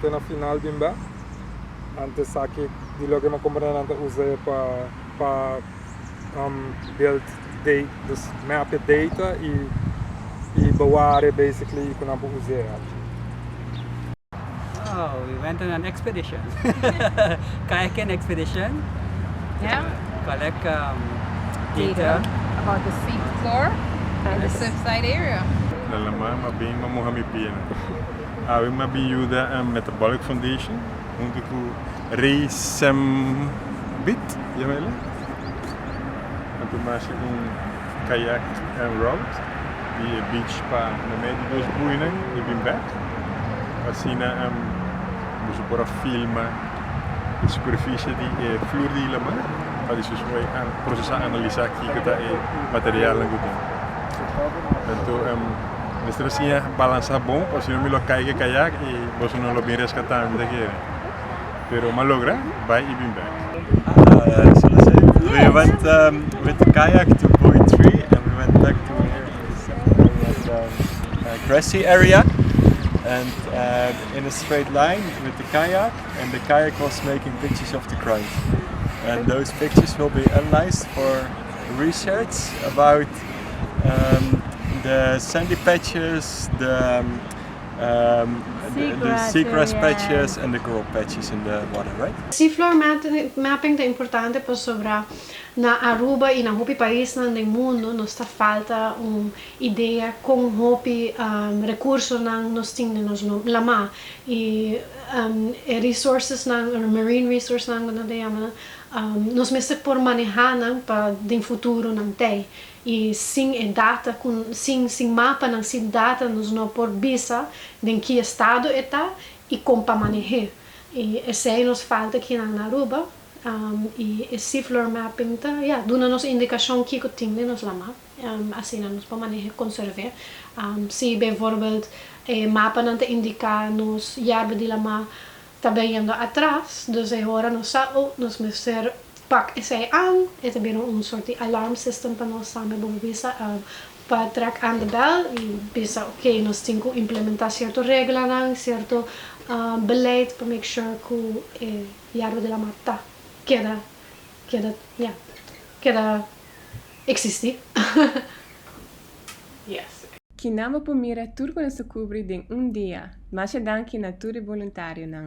te na final di mba, nan ta esaki di loke mi a compra nan ta usa e pa pa um build date dus map e data y y beware basically cu nan por usa e aki. Oh, we went on an expedition. Kayaking expedition. Yeah. To collect um, data. About the sea floor and the surfside area. Nan la mama bin ma moha mi pie nan. Awe a bin yuda Metabolic Foundation huntu ku Rei Sembit, yama e la, a bin masha un kayak en rout di e beach pa na medio di nos buinan i bin bek, asina boso por a filma e superfishi di e flur di Ilamar pa despues por a prosesá, analisá kiko ta e materialnan ku tin. Mester a siña balansa bon osino mi lo caiga kayak y boso no lo bin rescata mi ta kere pero m'a logra bay y bin bek. Shela esey we went with the kayak to buoy tree and we went back to here in the seven area grassy area and in a straight line with the kayak and the kayak was making pictures of the crowd and those pictures will be analyzed for research about de sandy patches de seagrass patches en de grow patches in de water right. Si floor mapping ta importante pasobra na Aruba y na hopi paisnan den mundo nos ta falta un idea con hopi recursonan nos tin den nos lamá y e resourcesnan marine resourcenan como nan ta yamanan Nos mester por maneha nan pa den futuro nan tei y sin e data cu sin sin mapa nan sin data nos no por bisa den ki estado e ta y con pa manehe y esey nos falta kinan na Aruba y e seafloor mapping ta ya duna nos indicacion kico tin den nos lama asina nos por manehe conserve si bijvoorbeeld e mapa nan ta indica nos yerba di lama Ta beyendo atras, dus e hora nos sa oh, nos mester pak esey an, e ta bira un sort di alarm system pa nos tambe bo bisa pa trek aan de bel y bisa ok nos tin cu implementa cierto reglanan, cierto beleid pa make sure cu e yerba de la mat ta keda keda ya keda existi yes. Ki nan bo por mira tur cu nos a cubri den un dia. Masha danki na tur e boluntarionan.